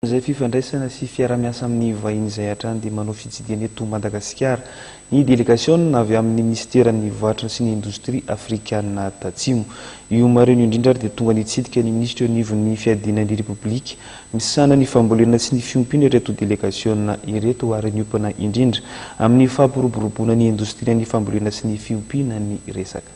Izay fifandraisana sy fiarahamiasa amin'ny vahiny izay hatrany dia manao fitsidihana eto Madagasikara ny delegasiona avy amin'ny minisiteran'ny Varotra sy ny Indostria afrikana Tatsimo. Io maraina io indrindra ary dia tonga nitsidika ny minisitra eo anivon'ny fiadiana ny Repoblika misahana ny fambolena sy ny fiompiana ireto delegasiona ireto ary niompana indrindra amin'ny fampiroboroboana ny indostrian'ny fambolena sy ny fiompiana ny resaka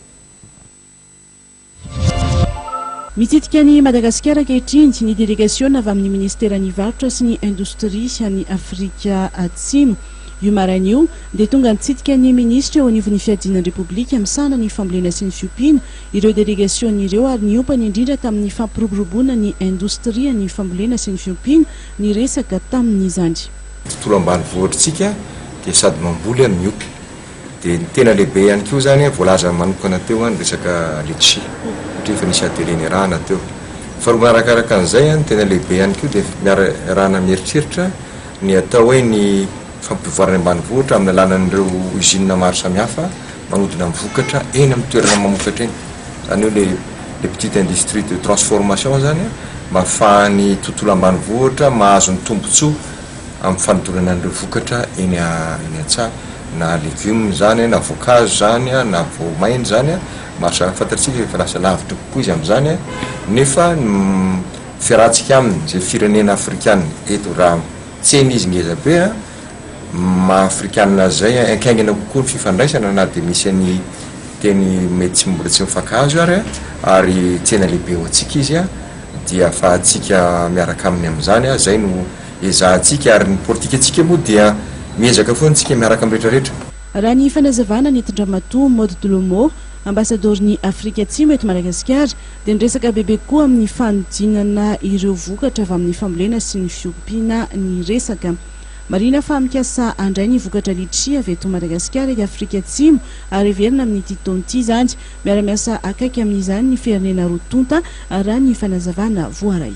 Mitsidika an'i Madagasikara ankehitriny ny delegasiona avy amin'ny Minisiteran'ny Varotra sy ny Indostria any Afrika Atsimo. Io maraina io dia tonga nitsidika ny Minisitra eo anivon'ny Fiadiana ny Repoblika misahana ny Fambolena sy ny Fiompiana ireo delegasiona ireo ary niompany indrindra tamin'ny fampiroboroboana ny Indostrian'ny Fambolena sy ny Fiompiana niresaka tamin'izany. Tontolo ambanivohitr'tsika dia sady mamboly ary miompy. Dia ny tena lehibe ihany koa izany, voalazany manokana teo ny resaka letchi, satria efa nisy atelier niarahana teo. Faharoa manarakaraka an'izay, ny tena lehibe ihany koa dia iarahana mieritreritra ny atao hoe ny fampivoarana ny ambanivohitra amin'ny alalan'ireo usines maro samihafa manodina ny vokatra eny amin'ny toerana mamokatra eny. Izany hoe ilay les petites industries de transformation izany mba ahafahan'ny tontolo ambanivohitra mahazo ny tombontsoa. amin'ny fanodonana an'ireo vokatra eny eny an-tsaha, na legioma izany, na voankazo izany, na voamaina izany, maro samy hafa fantatsika efa lasa lavitra kokoa izy amin'izany, nefa ny fiarahantsika aminy izay firenena afrikana eto raha tsena izy ngeza be an, maha afrikana azy izay an, haingaina kokoa ny fifandraisana na dia misy an'i teny mety tsy mbola tsy mifankahazo ary an, ary tsena lehibe ho antsika izy an, dia afahantsika miaraka aminy amin'izany a, izay no ezahantsika ary ny politikantsika moa dia miezaka foana isika miaraka amin'ny retraretra. Raha ny fanazavana nentin-dramatoa Maud Dlomo, Ambasadoron'i Afrika Atsimo eto Madagasikara, dia niresaka bebe kokoa amin'ny fanodinana ireo vokatra avy amin'ny fambolena sy ny fiompiana ny resaka. Marihina fa mikasa handray ny vokatra litchi avy eto Madagasikara i Afrika Atsimo ary heverina amin'ity taona ity izany Miara-miasa akaiky amin'izany ny firenena roa tonta, raha ny fanazavana voaray.